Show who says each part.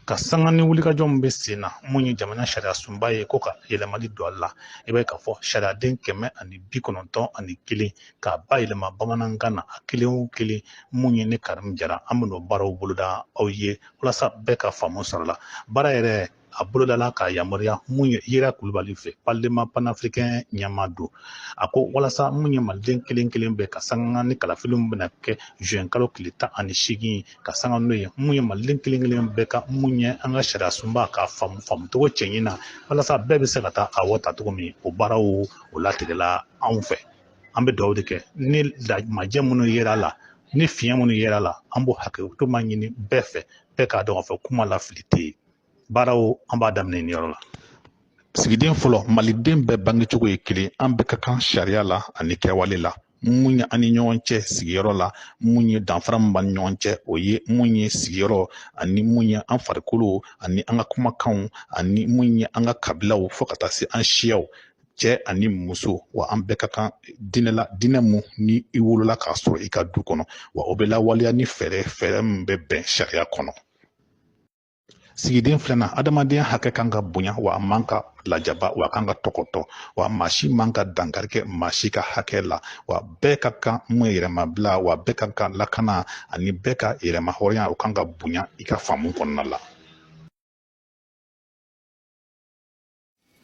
Speaker 1: ka sanga ni wulikajɔ min bɛ sen na mun ye jamana sariyasunba ye ko ka yɛlɛmali don a la i b'a ye k'a fɔ sariyaden kɛmɛ ani bi kɔnɔntɔn ani kelen k'a bayɛlɛma bamanankan na a kelen o kelen mun ye ne karimu jara an bɛn'o baaraw boloda aw ye walasa bɛɛ ka faamu sɔrɔ a la baara yɛrɛ a bolodala k'a yamaruya mun ye yera kulubali fɛ palema panafrikɛn ɲɛmaa don a ko walasa mun ye maliden kelen kelen bɛɛ ka sanga ni kalafiliw bɛna kɛ zuwɛn kalo tile tan ani seegin ka sanga n'o ye mun ye maliden kelen kelen bɛɛ ka mun ye an ka sariyasunba k'a faamu faamucogo cɛɲin na walasa bɛɛ bɛ se ka taa a wote cogo min o baaraw o latigɛla anw fɛ an bɛ dugawu de kɛ ni majɛ minnu yera la ni fiɲɛ minnu yera la an b'o hakɛto ma ɲini bɛɛ fɛ bɛɛ k'a dɔn k'a fɔ kuma lafili tɛ yen baaraw an b'a daminɛ nin yɔrɔ la sigiden fɔlɔ maliden bɛɛ bangecogo ye kelen an bɛɛ ka kan sariya la ani kɛwale la mun ye an ni ɲɔgɔn cɛ sigiyɔrɔ la mun ye danfara min b'an ni ɲɔgɔn cɛ o ye mun ye sigiyɔrɔ ani mun ye an farikolo ani an ka kumakanw ani mun ye an ka kabilaw fo ka taa se an siyaw cɛ ani muso wa an bɛɛ ka kan diinɛ la diinɛ mun ni i wolola k'a sɔrɔ i ka du kɔnɔ wa o bɛ lawaleya ni fɛɛrɛ fɛɛrɛ min bɛ bɛn sariya kɔnɔ sigiden filanan adamadenya hakɛ kan ka bonya wa a man ka lajaba wa a kan ka tɔgɔtɔ wa maa si man ka dankari kɛ maa si ka hakɛ la wa bɛɛ ka kan mun ye yɛrɛmabila wa bɛɛ ka kan lakana ani bɛɛ ka yɛrɛmahɔrɔnya o kan ka bonya i ka faamu kɔnɔna la